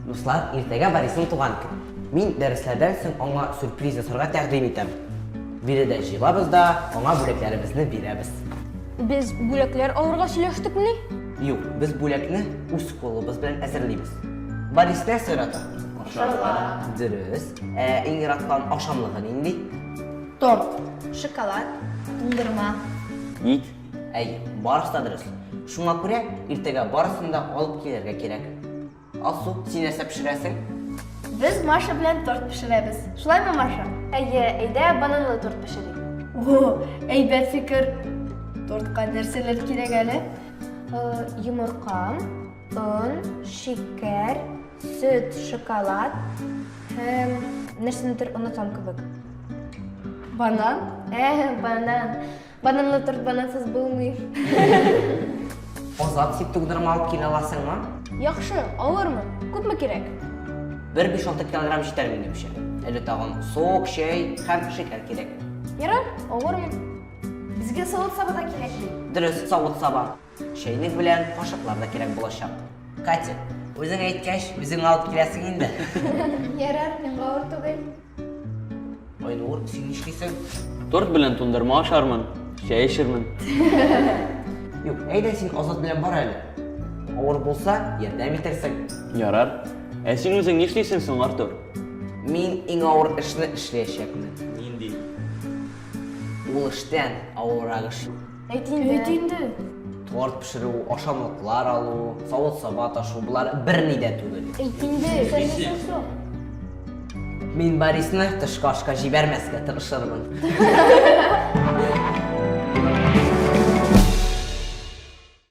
Дуслар, иртәгә Борисның туган көн. Мин дәресләрдән соң аңа сюрприз ясарга тәкъдим итәм. Биредә җыелабыз да, аңа бүләкләребезне бирәбез. Без бүләкләр алырга сөйләштекмени? Юк, без бүләкне үз кулыбыз белән әзерлибез. Борис нәрсә ярата? Ашарга. Дөрес. Ә иң яраткан ашамлыгы нинди? Торт, шоколад, туңдырма. Ник? Әй, барысы да дөрес. Шуңа күрә иртәгә барысын да алып килергә кирәк. Алсу, син нәрсә пешерәсең? Без Маша белән торт пешерәбез. Шулаймы, Маша? Әйе, әйдә бананлы торт пешерик. О, әйбәт фикер. Тортка нәрсәләр кирәк әле? Э, йомырка, он, шикәр, сөт, шоколад һәм нәрсәнедер онытам кебек. Банан? Ә, банан. Бананлы торт банансыз булмый. Азат, син тугдырма алып килә аласыңмы? Яхшы, алырмын. Күпме кирәк? Бер 5-6 килограмм җитәр минемчә. Әле тагын сок, чәй һәм шикәр кирәк. Ярар, алырмын. Безгә савыт-саба да кирәк бит. Дөрес, савыт-саба. Чәйнек белән кашыклар да кирәк булачак. Катя, үзең әйткәч, үзең алып киләсең инде. Ярар, миңа авыр түгел. Айнур, син нишлисең? Торт белән тундырма ашармын, чәй эчермен. Юк, әйдә син Азат белән бар әле. Авыр булса, ярдәм итерсең. Ярар. Ә син үзең нишлисең соң, Артур? Мин иң авыр эшне эшләячәкмен. Нинди? Ул эштән авыррак эш юк. Әйт инде. Әйт инде. Торт пешерү, ашамлыклар алу, савыт-саба ташу, болар берни дә түгел. Әйт инде. Сәләсен сорау. Мин Борисны тышкы ашка җибәрмәскә тырышырмын.